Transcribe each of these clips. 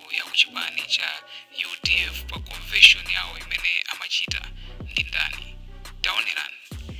yaikulu ya kuchipani cha udf pa convention yawo imene amachita ndi ndani taonerani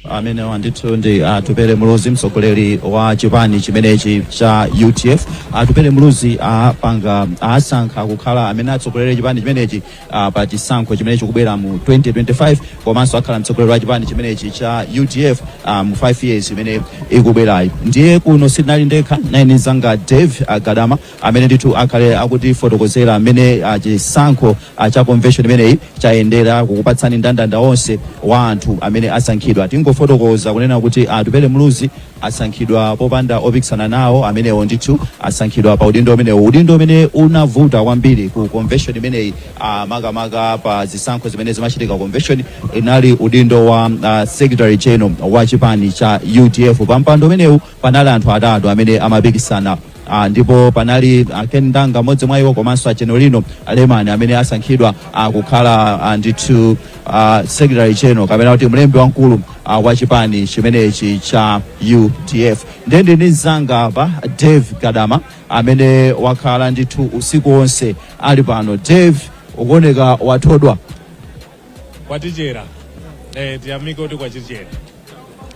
amenewa ndithu ndi atupele muluzi mtsogoleri wa chipani chimenechi cha udf atupele muluzi apanga asankha kukhala amene atsogolere chipani chimenechi ah, pa chisankho chimene chikubwera mu 2025 komanso akhala mtsogoleri wa chipani chimenechi cha udf ah, mu 5 years imene ikubwerayi ndiye kuno sindili ndekha ndili ndi mzanga dave gadama amene ndithu akhale akutifotokozera mmene ah, chisankho ah, cha convention imeneyi chayendera kukupatsani ndandanda onse wa anthu amene asankhidwa tingofotokoza kunena kuti atupele muluzi asankhidwa popanda opikisana nawo amenewo ndithu asankhidwa pa udindo umenewu udindo umene unavuta kwambiri ku convention imeneyi ah, makamaka pa zisankho zimene zimachitika convention inali udindo wa ah, secretary general wa chipani cha udf pa mpando umenewu panali anthu atatu amene amapikisana Ah, ndipo panali ah, Ken Ndanga mmodzi mwa iwo komanso a Genarino Lemani amene asankhidwa ah, kukhala ah, ndithu ah, secretary general kapena kuti mlembi wamkulu ah, wa chipani chimenechi cha UDF ndiye ndi ndi mzanga apa Dave Gadama amene wakhala ndithu usiku wonse ali pano Dave ukuoneka wathodwa kwatichera eh, tiyamike kuti kwatichera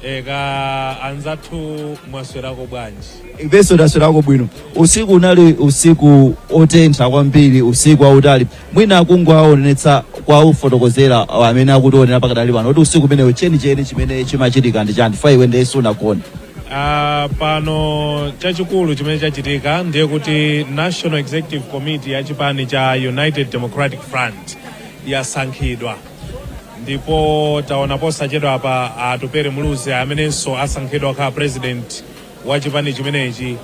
eh, kaya anzathu mwaswerako bwanji ifenso taswerako bwino usiku unali usiku otentha kwambiri usiku wautali mwina kungowaonetsa kuwafotokozera amene akutionera pakadali pano kuti usiku umenewo chenicheni chimene chimachitika ndi chani chifukwa iwe ndiye sunagone Ah, pano chachikulu chimene chachitika ndiye kuti national executive committee ya chipani cha united democratic front yasankhidwa ndipo taona posachedwa apa atupele muluzi amenenso asankhidwa kukhala president wa chipani chimenechi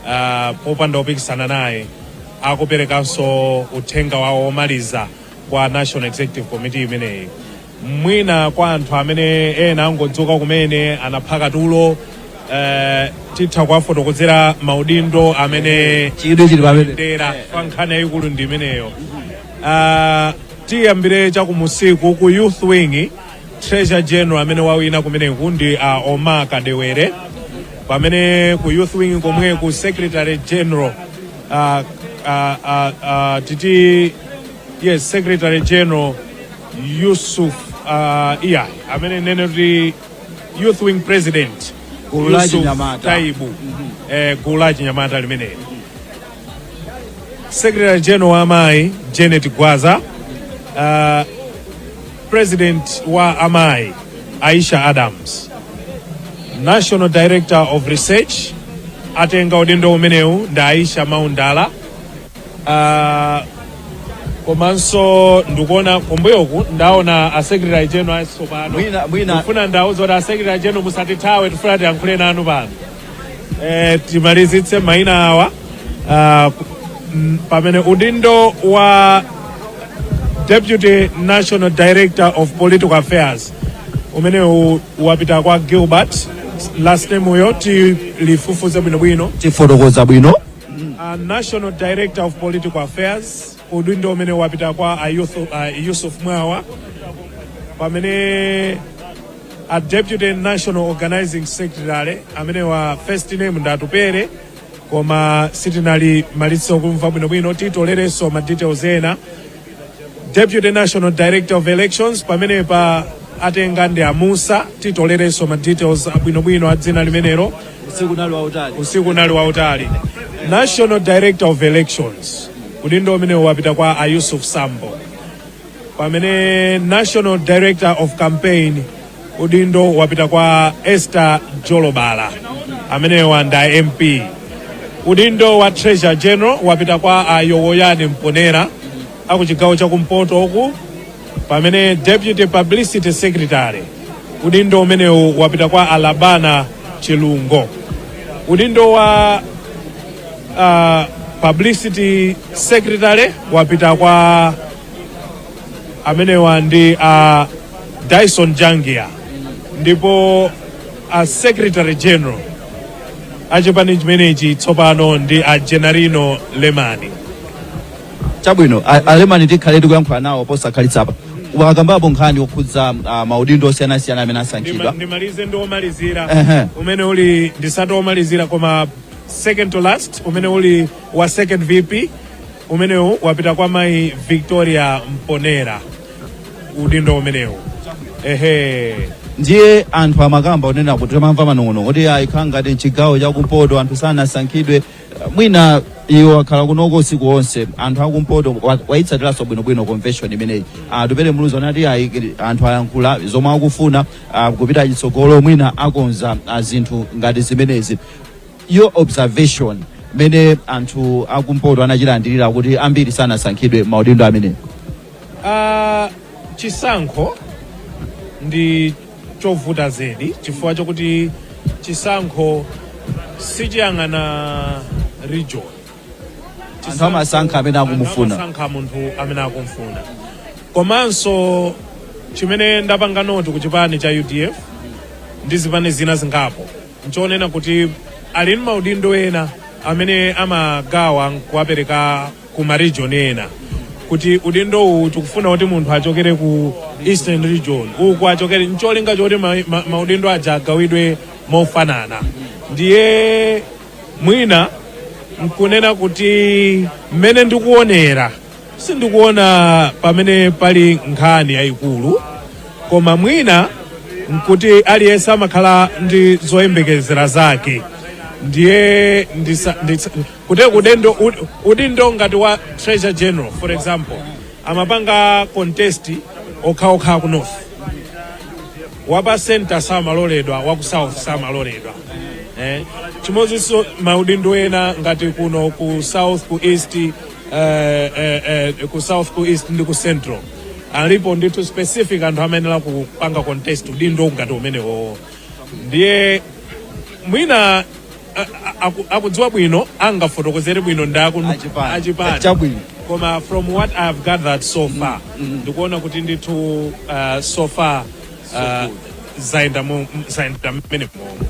ah, popanda opikisana naye akuperekanso uthenga wawo womaliza kwa national executive committee imeneyi mwina kwa anthu amene ena angodzuka kumene anaphaka tulo eh, titha kuwafotokozera maudindo amene chidwi chili pamene ndera koma nkhani yayikulu ndi imeneyo Ah, tiyambire chakumusiku ku youth wing treasure general amene wawina kumeneku ndi a oma kadewere pamene ku youth wing komwe ku secretary general ah, ah, ah, ah, titi yes secretary general yusuf ah, iya amene nene kuti youth wing president Gulu la Yusuf Chinyamata. taibu eh, gulu la chinyamata limeneli Secretary General wa amayi Janet Gwaza, uh, President wa amayi Aisha Adams, National Director of Research atenga udindo umenewu ndi Aisha Maundala. Uh, komanso ndikuona kumbuyoku ndaona a Secretary General asopano Mwina- mwina- ndifuna ndauza kuti a Secretary General musatithawe tifuna tiyankhule nanu pano eh, timalizitse maina awa ah, ku- mm, pamene udindo wa deputy national director of political affairs umenewu wapita kwa gilbert last name uyo tilifufuze bwinobwino tifotokoza bwino uh, national director of political affairs Udindo umene wapita kwa a Yusuf, a Yusuf Mwawa pamene a Deputy National Organizing Secretary amenewa first name nda Tupere koma sitinalimalize kumva bwinobwino titolereso ma details ena Deputy National Director of Elections pamenepa atenga ndi a Musa titolereso ma details abwinobwino a dzina limenelo usiku unali wautali usiku unali wautali national director of elections udindo umenewu wapita kwa a yusuf sambo pamene national director of campaign udindo wapita kwa esther jolobala amenewa nda mp udindo wa treasurer general wapita kwa a yowoyani mponera aku chigawo chakumpoto uku pamene deputy publicity secretary udindo umenewu wapita kwa a labana chilungo udindo wa uh, publicity secretary wapita kwa amenewa ndi uh, dyson jangia ndipo uh, secretary general achipani chimenechi tsopano ndi a genarino lemani chabwino a- a lemani tikhale tikuyankhula nawo posakhalitsa apa wakambapo nkhani yokhudza ah, maudindo osiyanasiyana amene asankhidwa Ndima- ndimalize ndi omalizira Ehe. umene uli ndisati omalizira koma second to last umene uli wa second vp umenewu wapita kwa mayi victoria mponera udindo umenewu ehe ndiye anthu amakamba onena kuti timamva manong'onong'o kuti ayi zikukhala ngati mchigawo chakumpoto anthu sanasankhidwe mwina iwo akhala kunoko usiku wonse anthu akumpoto wa- wayitsatiranso bwinobwino convention imeneyi Ah, tupere muluzi anati ayi kili- anthu ayankhula zomwe akufuna ah, kupita chitsogolo mwina akonza ah, zinthu ngati zimenezi your observation mene anthu akumpoto anachilandirira kuti ambiri sanasankhidwe maudindo amenewo Ah, chisankho ndi chovuta zedi chifukwa chokuti chisankho sichiyang'ana region Anthu amasankha amene akumufuna. Anthu amasankha munthu amene akumfuna komanso chimene ndapanga noti ku chipani cha udf ndi zipani zina zingapo nchonena kuti ali ndi maudindo ena amene amagawa nkuwapereka ku ma region ena kuti udindo uwu tikufuna kuti munthu achokere ku eastern region uku achokere ncholinga choti ma- ma- maudindo aja agawidwe mofanana ndiye mwina nkunena kuti mmene ndikuonera sindikuona pamene pali nkhani yayikulu koma mwina nkuti aliyense amakhala ndi zoyembekezera zake ndiye ndisa, ndisa, kuti udendo, ud- udindo ngati wa treasurer general for example amapanga contest okhaokha ku north wapa center samaloledwa waku south samaloledwa eh? chimozinso maudindo ena ngati kuno ku south ku east eh, eh, eh, ku south ku east ndi ku central alipo ndithu specific anthu amayenera kupanga contest udindo ngati umenewowo ndiye mwina a- a- aku- akudziwa bwino angafotokozere bwino ndi akuchipani achipani Chabwino. koma from what i have gathered so far ndikuona kuti ndithu uh, so far uh, zayenda mu- m- zayenda mmene momo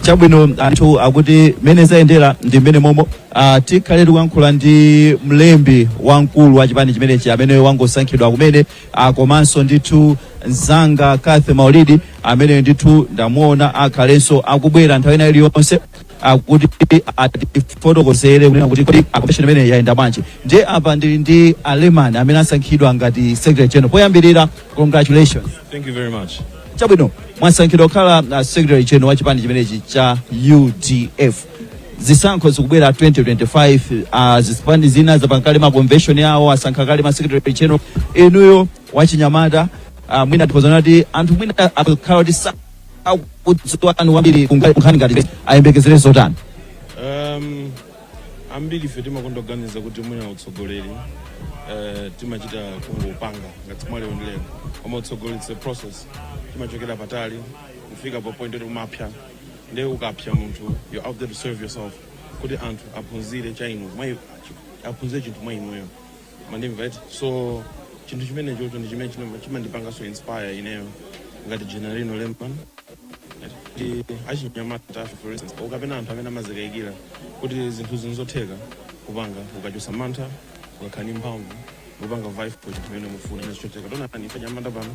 chabwino anthu akuti mmene zayendera ndi mmene momwe uh, tikhale tikuyankhula ndi mlembi wamkulu wa chipani chimenechi amene wangosankhidwa kumene Ah, komanso ndithu mzanga Kathy Maulidi amene ndithu ndamuona akhalenso akubwera nthawi ina iliyonse kuti atifotokozere kunena kuti kodi convention imene yayenda bwanji ndiye apa ndili ndi a Lemani amene asankhidwa ngati secretary general poyambirira congratulations Thank you very much. chabwino mwasankhidwa kukhala uh, secretary general wa chipani chimenechi cha udf zisankho zikubwera 2025 ah, zipani zina zapanga kale ma convention yawo asankha kale ma secretary general inuyo wachinyamata ah, mwina tiuzane kuti anthu mwina akhala kuti sa- akudziwa anu wambiri kunga- kunkhani ngati ayembekezere zotani um, ambiri ife timakonda kuganiza kuti mwina utsogoleri uh, timachita kungopanga ngati mwa lero ndi lero koma utsogoleri it's a process timachokera patali kufika pa point kuti kumapsa nde ukapsa munthu you're out there to serve yourself kuti anthu aphunzire cha inu mwa aphunzire chinthu mwa inuyo mandimva right so chinthu chimene chocho ndi chimene chima- chimandipanganso inspire ineyo ngati Genarino Lemani ndi achinyamata ife for instance ukapeza anthu amene amazikayikira kuti zinthu zinzotheka kupanga ukachosa mantha ukakhala ndi mphamvu kupanga vibe for chinthu chimene mufuna ndi chotheka taonani ife anyamata pano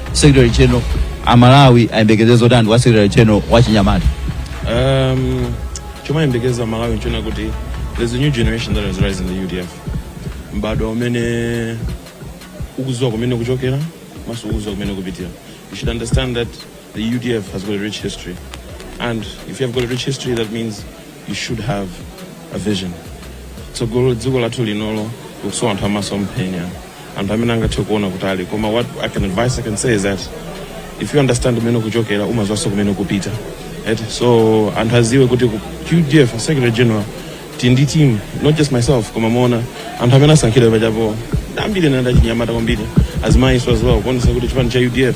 secretary general amalawi ayembekeze zotani kwa secretary general wa chinyamata Um, chomayembekeza malawi nchoona kuti there's a new generation that has risen in the udf mbadwo umene ukuziwa kumene ukuchokera manso ukuziwa kumene ukupitira you should understand that the udf has got a rich history and if you have got a rich history that means you should have a vision tsogolo dziko lathu linolo likusowa anthu amasomphenya anthu amene angathe kuona kutali koma what I can advise I can say is that if you understand kumene ukuchokera umaziwanso kumene ukupita right? so anthu aziwe kuti ku UDF secretary general tili ndi team not just myself koma muona anthu amene asankhidwa pachapo ambiri ndi achinyamata kwambiri azimayiso as well kuonesa kuti chipani cha UDF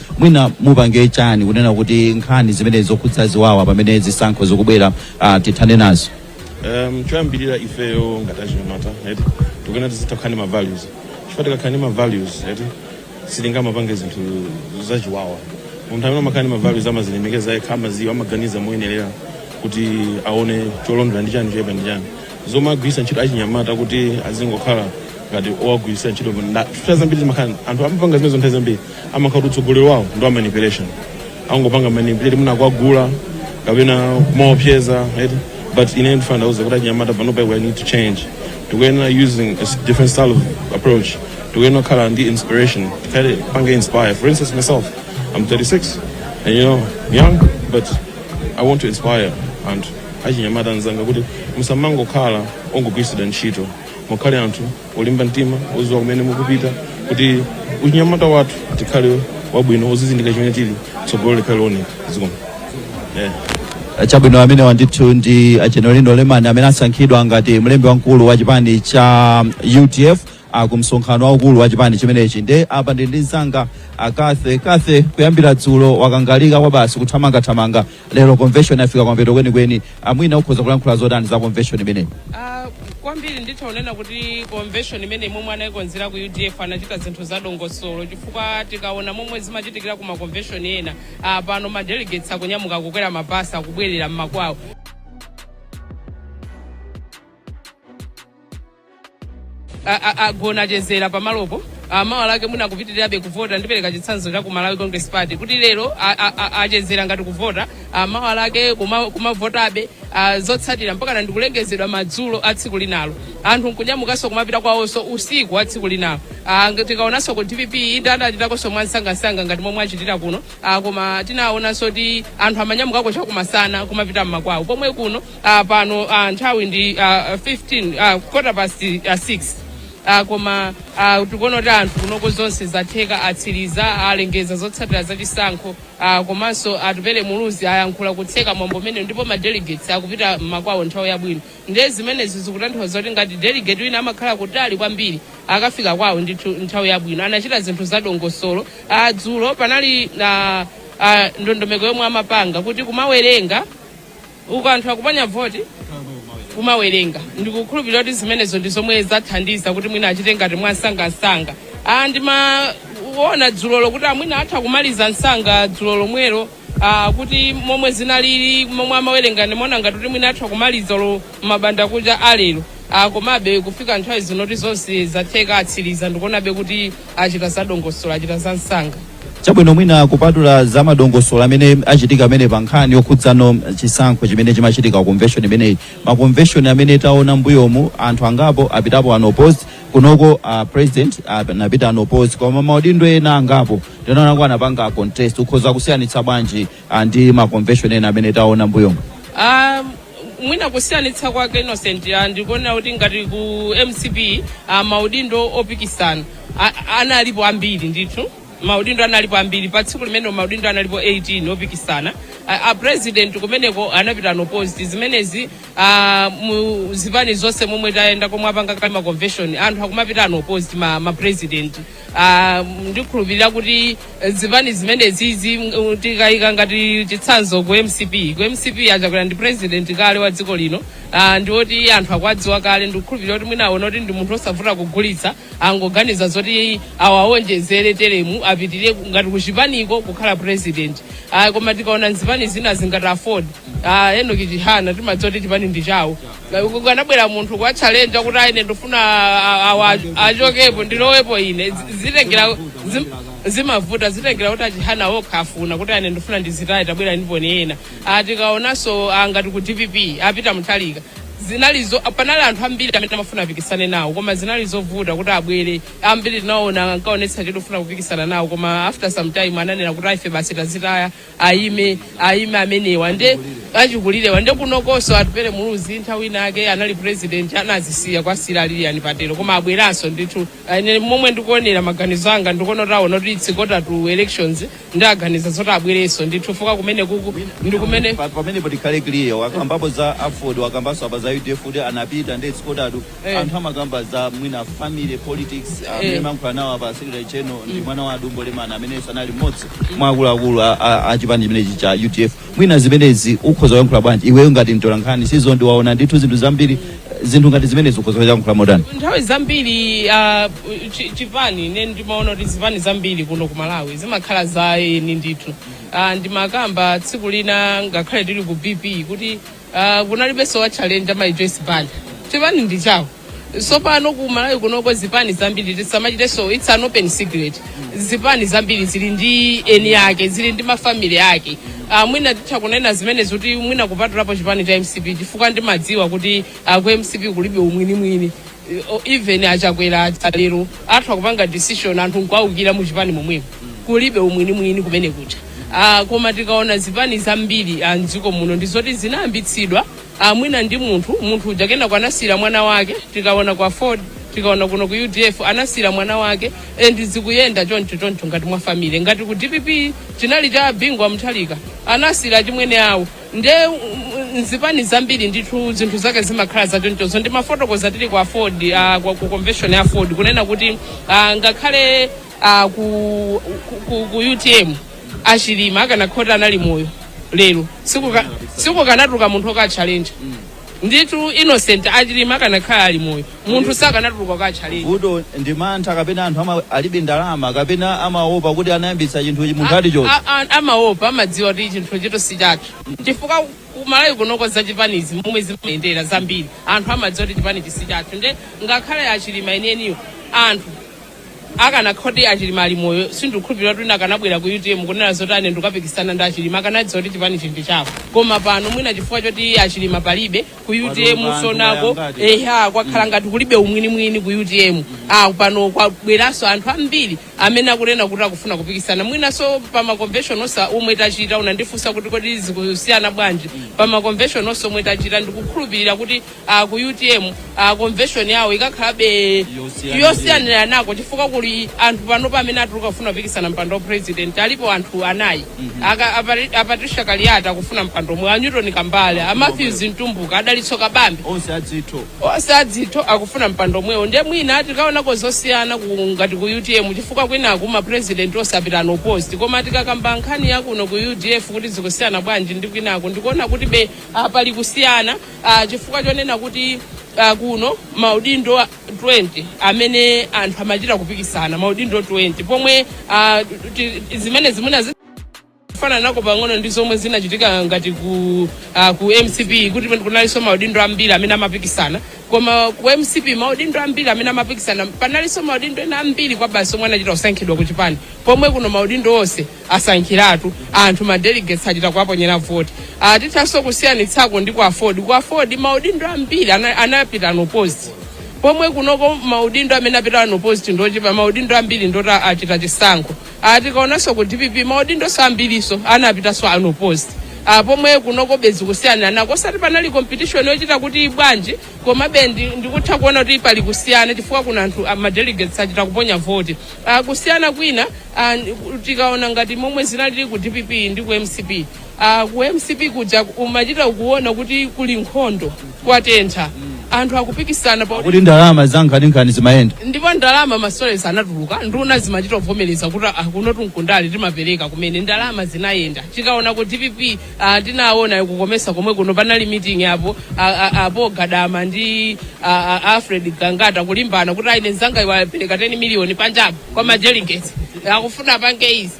mwina mupange chani kunena kuti nkhani zimenezi zokhudza ziwawa pamene zisankho zikubwera ah, tithane nazo um, choyambirira ifeyo ngati achinyamata eti tikuyena tizitha kukhala ndi ma values chifukwa tikakhala ndi ma values eti sitingamapange zinthu zachiwawa munthu amene amakhala ndi ma values amazilemekeza yekha amaziwa amaganiza moyenerera kuti aone choloyenera ndi chani choyipa ndi chani zomagwiritsa ntchito achinyamata kuti azingokhala ngati owagwiritsa ntchito chifukwa zambiri zimakhala anthu amapanga zimenezo nthawi zambiri amakhala kuti utsogoleri wawo ndi wa manipulation angopanga manipulate mwina kuwagula kapena kumawaopseza right but ine ndifuna ndiwauze kuti achinyamata panopa we need to change tikuyenera using a s- different style of approach tikuyenera kukhala ndi inspiration tikawapange inspire for instance myself i'm 36 and you know young but i want to inspire anthu achinyamata anzanga kuti musamangokhala ongogwiritsidwa ntchito mukhale anthu olimba mtima oziwa kumene mukupita kuti uchinyamata wathu tikhale wabwino ozizindika chimene tili tsogolo likhale looneka zikomo yeah. chabwino ameneyo ndithu ndi a Genarino lemani amene asankhidwa ngati mlembi wamkulu wa chipani cha udf ku msonkhano waukulu wa chipani chimenechi nde apa ndi ndi mzanga Cathy Cathy kuyambira dzulo wakangalika kwabasi kuthamangathamanga Lero convention yafika kumapeto kwenikweni, a Mwina ukhoza kulankhula zotani za convention imeneyi? Ah, kwambiri nditha kunena kuti convention imeneyi momwe anayikonzera ku udf anachita zinthu za dongosolo chifukwa tikaona momwe zimachitikira ku maconvention ena ah, pano ma delegates akunyamuka kukwera mabasi akubwerera mmakwawo a- a- agona achezera pamalopo amawa lake mwina akupitirirabe kuvota ndipereka chitsanzo cha ku malawi congress party kuti lero a- a- a- achezera ngati kuvota mawa lake kuma- kumavotabe ah, zotsatira mpakana ndikulengezedwa madzulo a tsiku linalo anthu nkunyamukanso kumapita kwawonso usiku wa tsiku linalo Ah, nge- tikaonanso ku dpp itadachitakonso mwansangasanga ngati momwe achitira kuno Ah, koma tinaonanso kuti anthu amanyamukako chakumasana kumapita mmakwawo pomwe kuno uh, pano uh, nthawi ndi uh, 15 uh, quarter past uh, 6 uh, koma uh, tikuona kuti anthu kunoko zonse zatheka atsiriza alengeza zotsatira za chisankho uh, komanso atupele muluzi ayankhula kutseka mwambo umene ndipo ma delegates akupita m'makwawo nthawi yabwino ndiye zimenezi zikutanthauza kuti ngati delegate wina amakhala kutali kwambiri akafika kwawo ndithu nthawi yabwino anachita zinthu za dongosolo uh, dzulo panali uh, uh, ndondomeko yomwe amapanga kuti kumawerenga uku anthu akuponya voti kumawerenga ndikukhulupirira kuti zimenezo ndi zomwe zathandiza kuti mwina achite ngati mwamsangamsanga ah, ndimaona dzulolo kuti ah mwina atha kumaliza msanga dzulo lomwelo ah, kuti momwe zinalili momwe amawerenga ndimaona ngati kuti mwina atha kumaliza lo m'mbandakucha walero ah, komabe kufika nthawi zino kuti zonse zatheka atsiriza ndikuonabe kuti achita za dongosolo achita za msanga chabwino mwina kupatula za madongosolo amene achitika amene pa nkhani yokhudzana ndi chisankho chimene chimachitika ku convention imeneyi maconvention amene taona mbuyomu anthu angapo apitapo unopposed kunoko uh, president anapita uh, unopposed koma maudindo ena angapo tinaona kuti anapanga contest ukhoza kusiyanitsa bwanji ah, ndi ma convention ena amene taona mbuyomu Ah, mwina kusiyanitsa kwake innocent ah, ndikuonera kuti ngati ku mcp ah, maudindo opikisana ah, analipo ambiri ndithu maudindo analipo ambiri pa tsiku limenelo maudindo analipo 18 opikisana Ah, a president kumeneko anapita unopposed zimenezi ah, mu zipani zonse momwe tayenda komwe apanga kale ma convention anthu akumapita unopposed ma, ma president Ah, ndikhulupirira kuti eh, zipani zimenezizi mm, tikayika ngati chitsanzo ku mcp ku mcp achakwera ndi president kale wa dziko lino ah, ndi oti anthu akuwadziwa kale ndikukhulupirira kuti mwina aona kuti ndi munthu osavuta kugulitsa angoganiza zoti awawonjezere teremu apitirire ku- ngati kuchipaniko kukhala president Ah, koma tikaona zipani zina zingati aford Ah, enoch chihana timadziwa kuti chipani ndi chawo akanabwera munthu kuwatchalenja kuti ah ine ndifuna a- awa achokepo ndilowepo ine Zi- zitengera zim- zimavuta zitengera kuti achihana okha afuna kuti ah ine ndifuna ndizitaye tabwerani poni ena ah tikaonanso ah ngati ku dpp apita mutharika zinali zo panali anthu ambiri amene amafuna apikisane nawo koma zinali zovuta kuti abwere ambiri tinaona ankaonetsa chidwi chofuna kupikisana nawo koma after some time ananena kuti ah ife basi tazitaya ayime ayime amenewa nde achikulirewa nde kunokonso atupere muluzi nthawi inake anali president anazisiya kwa a sila a lilian patel koma abweranso ndithu ine momwe ndikuonera maganizo anga ndikuona kuti aona kuti it's quarter to elections nde aganiza zoti abwerenso ndithu chifukwa kumene kuku ndi kumene Pa- pamene tikhale clear wakambapo za aford wakambanso apa za udf kuti anapita ndi it's quarter to Eh. anthu amakamba za mwina family politics amene Eh. mumalankhula nawo apa secretary general ndi mwana wa a Dumbo Lemani amenenso anali mmodzi mwa akuluakulu a- a a chipani chimenechi cha udf mwina zimenezi ukhoza kuyankhula bwanji iweyo ngati mtolankhani sizo ndiwaona ndithu zinthu zambiri eh, zinthu ngati zimenezi ukhoza kuyankhula motani nthawi zambiri ah, chi- chipani ine ndimaona kuti zipani zambiri kuno ku malawi zimakhala za eni ndithu Ah, ndimakamba tsiku lina ngakhale tili ku pp kuti Uh, kunalibenso wa challenge amayi Joyce Banda chipani ndi chawo sopano ku Malawi kunoko zipani zambiri tisamachitenso it's an open secret zipani zambiri zili ndi eni ake zili ndi mafamily ake uh, mwina titha kunena zimene zoti mwina kupatulapo chipani cha mcp chifukwa ndimadziwa kuti uh, ku mcp kulibe umwini umwini even a Chakwera lero atha kupanga decision anthu nkuwaukira mu chipani momwemo kulibe umwinimwini kumene kuja ah, koma tikaona zipani zambiri ah, mdziko muno ndi zoti zinayambitsidwa ah, mwina ndi munthu munthu uja kenako anasiyira mwana wake tikaona kwa aford tikaona kuno ku udf anasiyira mwana wake and zikuyenda choncho choncho ngati mwa family ngati ku dpp chinali cha bingu wa mutharika anasiyira achimwene awo nde mm, nzipani zambiri ndithu zinthu zake zimakhala zachonchozo ndimafotokoza tili kwa aford ah, kwa- ku convention ya aford kunena kuti ah, ngakhale ah, ku, ku, ku, ku utm a Chilima akanakhala kuti anali moyo lero sikukanatuluka munthu wokawatchalenja ndithu innocent a Chilima akanakhala ali moyo munthu sakanatuluka kuwatchalenja vuto ndi mantha kapena anthu ama, alibe ndalama kapena amaopa kuti anayambitsa chinthu ichi munthu ati choti A- a- amaopa amadziwa kuti chinthuchitu si chathu chifukwa kumalawi kunoko za chipanizi momwe zimayendera zambiri anthu amadziwa kuti chipanichi si chathu nde ngakhale a Chilima enieniwo anthu akanakhala kuti a Chilima ali moyo sindikukhulupirira kuti wina akanabwera ku utm kunena zoti ine ndikapikisana ndi a Chilima akanadziwa kuti chipanichi ndi chawo koma pano mwina chifukwa choti a Chilima palibe ku utm tsonoko eha kwakhala ngati kulibe umwinimwini ku utm ah, pano kwabweranso anthu ambiri amene akunena kuti akufuna kupikisana mwinanso pa maconvention onse omwe tachita unandifunsa kuti kodi zikusiyana bwanji pa maconvention onse omwe tachita ndikukhulupirira kuti uh, ku utm uh, convention yawo ikakhalabe yosiyaniranako chifukwa kuli anthu panopa amene atuluka kufuna kupikisana mpando wa president alipo anthu anayi Aka- apari- a Patricia Kaliati akufuna mpando omwewo a newton kambala a matthews mtumbuka a Dalitso Kabambe onse azitho onse azitho akufuna mpando omwewo ndiye mwina tikaonako zosiyana ku- ngati ku utm chifukwa kwinaku mapresidenti onse apita unopposed koma tikakamba nkhani yakuno ku udf kuti zikusiyana bwanji ndi kwinaku ndikuona kuti be apali kusiyana uh, chifukwa chonena kuti uh, kuno maudindo 20 amene anthu amachita kupikisana maudindo 20 pomwe uh, ti- ti- zimene zimene zi- kufananako pang'ono ndi zomwe zinachitika ngati ku, uh, ku mcp kuti kunalinso maudindo ambiri amene amapikisana koma ku mcp maudindo ambiri amene amapikisana panalinso maudindo ena ambiri kwabasi omwe anachita kusankhidwa ku chipani pomwe kuno maudindo onse asankhiratu anthu ma delegates achita kuwaponyera voti Ah, tithanso kusiyanitsako ndi ku aford ku aford maudindo ambiri ana- anapita unopposed pomwe kunoko maudindo amene apita unopposed ndochepa maudindo ambiri ndoti achita chisankho Ah, tikaonanso ku dpp maudindoso ambiriso anapitanso unopposed Ah, pomwe kunoko bezi kusiyaniranako osati panali competition yochita kuti bwanji komabe ndi- ndikutha kuona kuti pali kusiyana chifukwa kuna anthu ah, ma delegates achita kuponya voti Ah, kusiyana kwina ah, ndi- tikaona ngati momwe zinalili ku dpp ndi ku mcp Ah, ku mcp kuja umachita kuona kuti kuli nkhondo kwatentha anthu akupikisana pakuti ndalama zankhaninkhani zimayenda ndipo ndalama ma stories anatuluka nduna zimachita kuvomereza kuti a kunotu nkundale timapereka kumene ndalama zinayenda tikaona ku dpp Ah, ndinaona ku comesa komwe kuno panali meeting a paul a- a- a paul gadama ndi a- a- alfred gangata kulimbana kuti ayi mnzangayu wapereka 10 miliyoni panjapo kwa ma delegates akufuna apange izi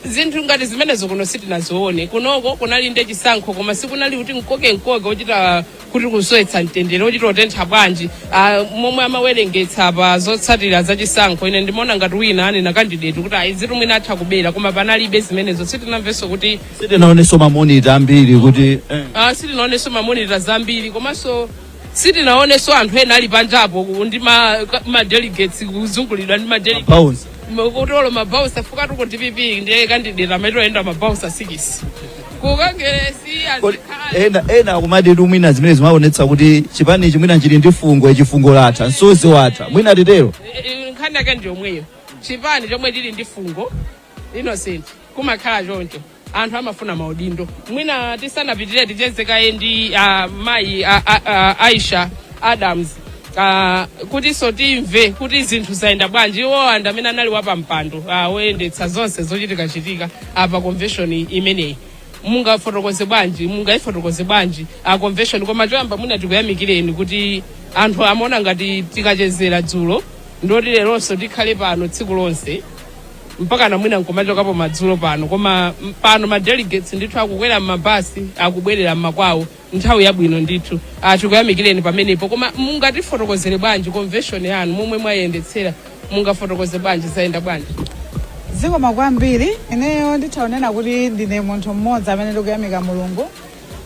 zinthu ngati zimenezo kuno sitinazione kunoko kunali ndi chisankho koma sikunali kuti mkokemkoke wochita kuti kusowetsa mtendere wochita kutentha bwanji ah, momwe amawerengetsa pa zotsatira za chisankho ine ndimaona ngati wina anena kandideti kuti ayi izitu mwina atha kubera koma panalibe zimenezo sitinamvenso kuti sitinaonenso mamonita ambiri kuti eh. ah, sitinaonenso mamonita zambiri komanso sitinaonenso anthu ena ali panjapo ku- ndi ma, ma delegates kuzungulidwa ndi ma delegates nkutolera ma voucher chifukwatu ku dpp ndiye kandideti maitiro ayenda ma voucher sikisi kukangeresi Kodi azikhala ena ena akumatitu mwina zimene zimaonetsa kuti chipani ichi mwina chili ndi fungo chifungo latha nsonzi watha mwina titero Eh, nkhani yake ndiyomweyo chipani chomwe chili ndi fungo innocent kumakhala choncho anthu amafuna maudindo mwina tisanapitire ticheze kaye ndi uh, mayi uh, uh, aisha adams uh, kutinso timve kuti zinthu zayenda bwanji iwowa ndi amene anali wapampando uh, woyendetsa zonse zochitikachitika pa convention imeneyi mungafotokoze bwanji mungayifotokoze bwanji a convention koma choyamba mwina tikuyamikireni kuti anthu amaona ngati tikachezera dzulo ndoti leronso tikhale pano tsiku lonse mpakana mwina nkumachokapo madzulo pano koma m- pano ma delegates ndithu akukwera m'mabasi akubwerera m'makwawo nthawi yabwino ndithu Ah, tikuyamikireni pamenepo koma mungatifotokozere bwanji convention yanu momwe mwayendetsera mungafotokoze bwanji zayenda bwanji zikomo kwambiri ineyo nditha kunena kuti ndine munthu mmodzi amene ndikuyamika mulungu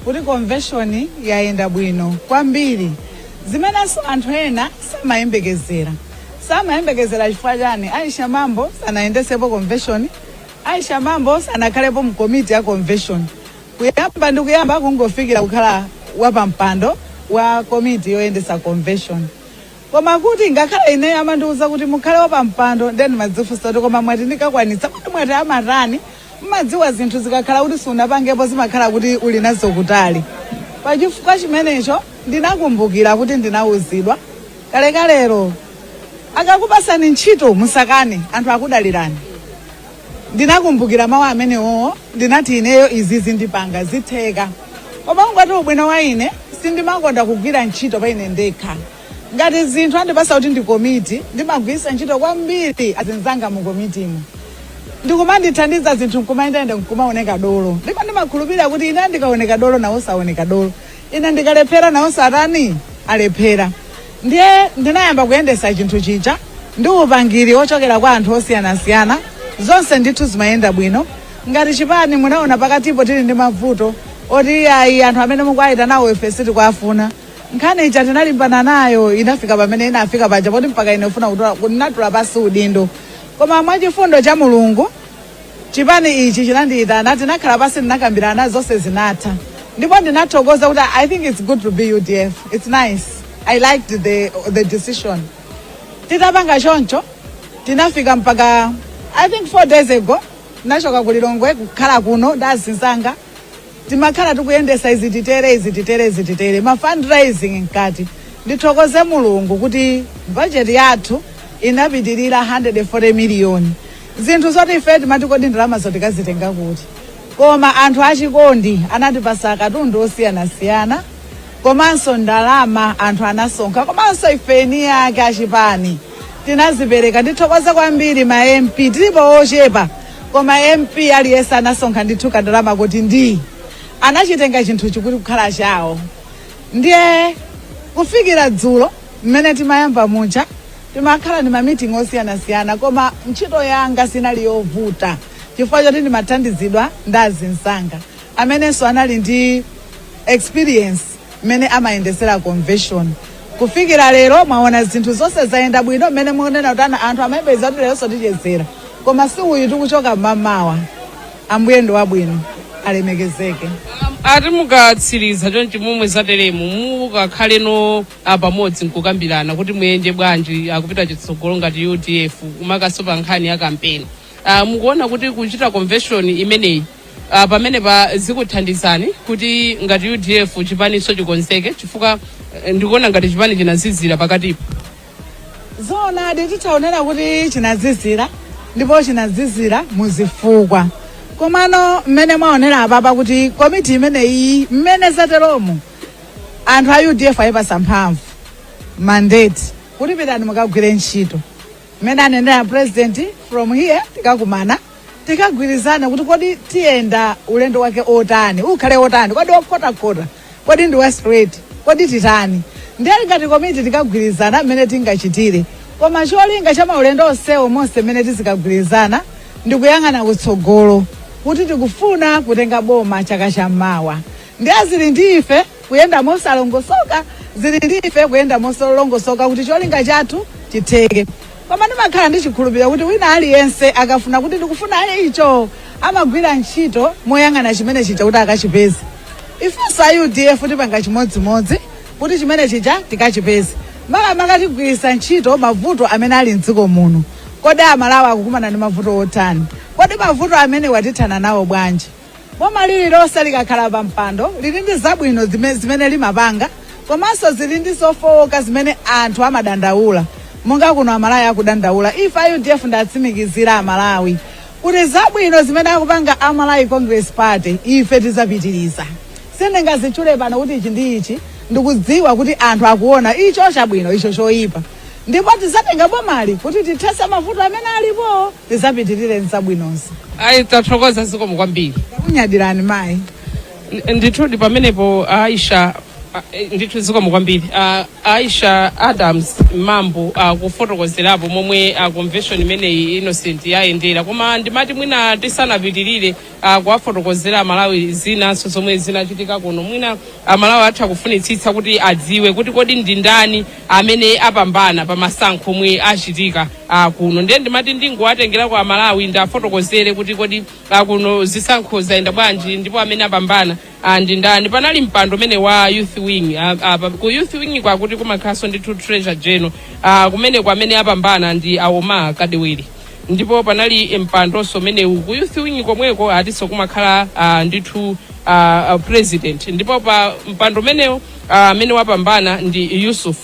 kuti convention yayenda bwino kwambiri zimenenso anthu ena samayembekezera samayembekezera chifukwa chani aisha mambo sanayendesepo convention aisha mambo sanakhalepo mu komiti ya convention kuyamba ndi kuyamba kungofikira kukhala wapampando wa komiti yoyendesa convention koma kuti ngakhale ineyo amandiuza kuti mukhale wapampando ndiye ndimadzifunsa kuti koma mwati ndikakwanitsa kuti mwati amatani Mmadziwa zinthu zikakhala kuti sunapangepo zimakhala kuti uli nazo kutali. Pa chifukwa chimenecho ndinakumbukira kuti ndinauzidwa kalekalelo, akakupasani ntchito musakane, anthu akudalirani. Ndinakumbukira mawu amenewowo, ndinati ineyo izizi ndipanga, zitheka. Koma ngati ubwino wa ine, sindimakonda kugwira ntchito pa ine ndekha. ngati zinthu andipatsa kuti ndi komiti ndimagwiritsa ntchito kwambiri azinzanga mu komitimu ndikumandithandiza zinthu nkumayenda nkumaoneka dolo ndipo ndimakhulupirira kuti ine ndikaoneka dolo nawonso aoneka dolo ine ndikalephera nawonso atani alephera ndiye ndinayamba kuyendesa chinthu chija ndi upangiri ochokera kwa anthu osiyanasiyana zonse ndithu zimayenda bwino ngati chipani munaona pakatipo tili ndi mavuto oti ayi anthu amene mukuwaitanawo ife sitikuwafuna nkhani ija tinalimbana nayo inafika pamene inafika paja poti mpaka ine kufuna kutola- kukatula pansi udindo koma mwachifundo cha mulungu chipani ichi chinandiitana tinakhala pansi tinakambirana zonse zinatha ndipo ndinathokoza kuti i think it's good to be udf it's nice i liked the, the decision titapanga choncho tinafika mpaka i think four days ago ndachoka ku lilongwe kukhala kuno ndi azinzanga timakhala tikuyendesa izi titere izi titere izi titere ma fundraising mkati ndithokoze mulungu kuti bajeti yathu inapitirira 140 miliyoni zinthu zoti ife timati kodi ndalamazo tikazitenga kuti koma anthu achikondi anatipatsa katundu osiyanasiyana komanso ndalama anthu anasonkha komanso ife eni ake achipani tinazipereka ndithokoze kwambiri ma mp tilipo ochepa koma mp aliyense anasonkha ndithu kandalama kuti ndi anachitenga chinthuchi kuti kukhala chawo ndiye kufikira dzulo mmene timayamba muja timakhala ndi mamiting osiyanasiyana koma ntchito yanga sinali yovuta chifukwa choti ndimathandizidwa ndi azinzanga amenenso anali ndi experience mmene amayendesera convention kufikira lero mwaona zinthu zonse zayenda bwino mmene mukunena kuti ana anthu amayembekeza kuti leronso tichezera koma si uyu tikuchoka mmamawa ambuye ndi wabwino alemekezeke ati mukatsiriza chonchi momwe zateremu mukakhalenso pamodzi nkukambirana kuti muyende bwanji kupita chitsogolo ngati udf makanso pa nkhani ya kampeni Uh, mukuona kuti kuchita convention imeneyi uh, pamene pa zikuthandizani kuti ngati udf chipaniso chikonzeke chifukwa uh, ndikuona ngati chipani chinazizira pakatipo zoonadi titaonera kuti chinazizira ndipo chinazizira muzifukwa komano mmene mwaonera apapa kuti komiti imeneyi mmene zateromo anthu a udf ayipasa mphamvu mandate kuti pitani mukagwire ntchito mmene anenera president from here tikakumana tikagwirizana kuti kodi tiyenda ulendo wake wotani ukhale wotani kodi wokhotakhota kodi ndi wa straight kodi titani ndiye ngati komiti tikagwirizana mmene tingachitire koma cholinga cha maulendo onsewo monse mmene tizikagwirizana ndikuyang'ana kutsogolo kuti tikufuna kutenga boma chaka chammawa ndiye zili ndi ife kuyenda mosalongosoka zili ndi ife kuyenda molongosoka kuti cholinga chathu chitheke koma ndimakhala ndi chikhulupiriro kuti wina aliyense akafuna kuti ndikufuna icho amagwira ntchito moyang'ana chimene chija kuti akachipeze ifenso a udf tipanga chimodzimodzi kuti chimene chija tikachipeze makamaka tigwiritsa ntchito mavuto amene ali mdziko muno kodi amalawi akukumana ndi mavuto otani kodi mavuto amene watithana nawo bwanji boma lililonse likakhala pa mpando lili ndi zabwino zime- zimene limapanga komanso zili ndi zofowoka zimene anthu amadandaula monga kuno amalawi akudandaula ife a udf ndatsimikizira amalawi kuti zabwino zimene akupanga a malawi congress party ife tizapitiriza sindingazitchule pano kuti ichi ndi ichi ndikudziwa kuti anthu akuona icho chabwino icho choyipa ndipo tizatenga bomali kuti tithetse mavuto amene alipo tizapitirire nzabwinozo ayi tathokoza zikomo kwambiri takunyadirani mayi N- ndithudi pamenepo aisha a- eh, ndithu zikomo kwambiri Ah, aisha adams mambo akufotokozerapo momwe ah, convention imeneyi innocent yayendera koma ndimati mwina tisanapitirire a kuwafotokozera aMalawi zinanso zomwe zinachitika kuno. Mwina aMalawi atha kufunitsitsa kuti adziwe kuti kodi ndi ndani amene apambana pa masankho omwe achitika a kuno. Ndiye ndimati ndingowatengerako aMalawi ndiwafotokozere kuti kodi a kuno zisankho zayenda bwanji ndipo amene apambana Ah, ndi ndani panali mpando umene wa youth wing ah, ah, pa- ku youth wing kwakuti kumakhalanso ndithu treasurer general ah, kumene amene apambana ndi a omar kadewere ndipo panali mpandonso umene ku youth wing komweko atinso kumakhala ah, ndithu ah, ah, president ndipo pa mpando umenewo ah, amene wapambana ndi yusuf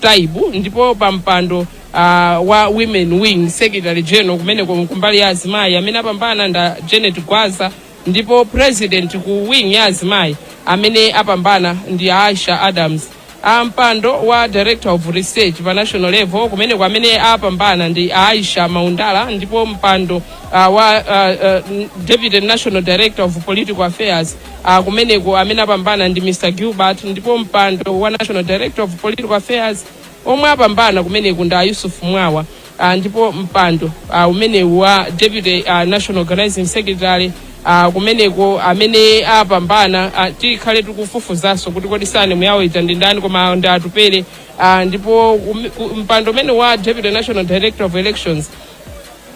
taibu ndipo pa mpando ah, wa women wing secretary general kumene kumbali ya azimayi amene apambana nda janet gwaza Ndipo president ku wing ya azimayi amene apambana ndi a Aisha Adams. A mpando wa Director of Research pa national level kumeneko amene apambana ndi a Aisha Maundala ndipo mpando uh, wa uh, uh, Deputy National Director of Political Affairs uh, kumeneko amene apambana ndi Mr. Gilbert ndipo mpando wa National Director of Political Affairs omwe apambana kumeneko ndi a Yusuf Mwawa. Ah, ndipo mpando ah, umenewu wa deputy ah, national organizing secretary ah, kumeneko amene apambana ah, tikhale tikufufuzanso kuti kodi sane muyawo ija ndi ndani koma ndi atupere ah, ndipo umi- ku- mpando umenewu wa deputy national director of elections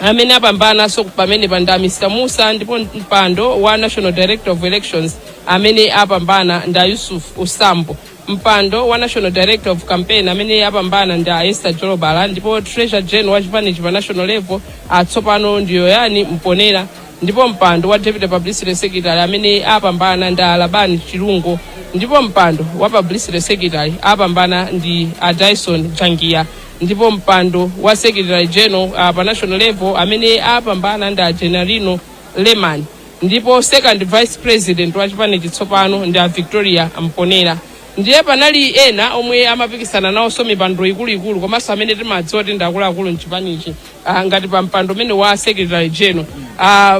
amene apambananso pamenepa ndi a mr musa ndipo mpando wa national director of elections amene apambana ndi a yusuf usambo mpando wa national director of campaign amene apambana ndi a esther jolobala ndipo treasurer general wa chipanichi pa national level atsopano ndi yoyani mponera ndipo mpando wa deputy publicity secretary amene apambana ndi a labani chilungo ndipo mpando wa publicity secretary apambana ndi a dyson jangiya ndipo mpando wa secretary general uh, pa national level amene apambana ndi a genarino lemani ndipo second vice president wa chipanichi tsopano ndi a victoria mponera ndiye panali ena omwe amapikisana nawonso mipando ikuluikulu komanso amene timadziwa kuti ndi akuluakulu mchipanichi ah, ngati pa mpando umenewu wa secretary general ah,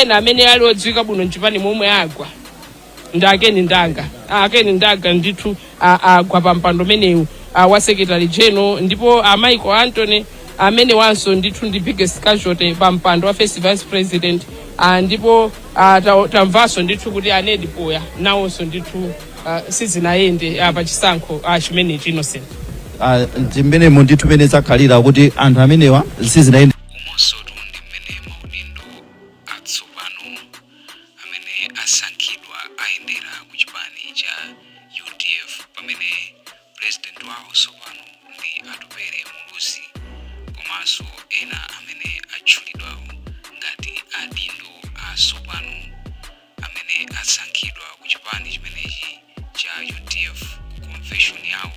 ena amene ali odziwika bwino mchipanimo omwe agwa ndi a ken ndanga Ah, a ken ndanga ndithu ah, agwa pa mpando umenewu ah, wa secretary general ndipo ah, michael anthony amenewanso ndithu ndi biggest casualty pa mpando wa first vice president ah, ndipo ah, ta- tamvanso ndithu kuti a ned poya nawonso ndithu ah, sizinayende ah, pa chisankho ah, chimenechi innocent Ah, ndi mmenemo ndithu mmene zakhalira kuti anthu amenewa sizinayende amene asankhidwa ayendera ku chipani cha udf pamene pulezidenti wawo tsopano ndi atupere muluzi komanso ena amene atchulidwawo ngati adindo atsopano amene asankhidwa ku chipani chimenechi cha udf ku konveshoni yawo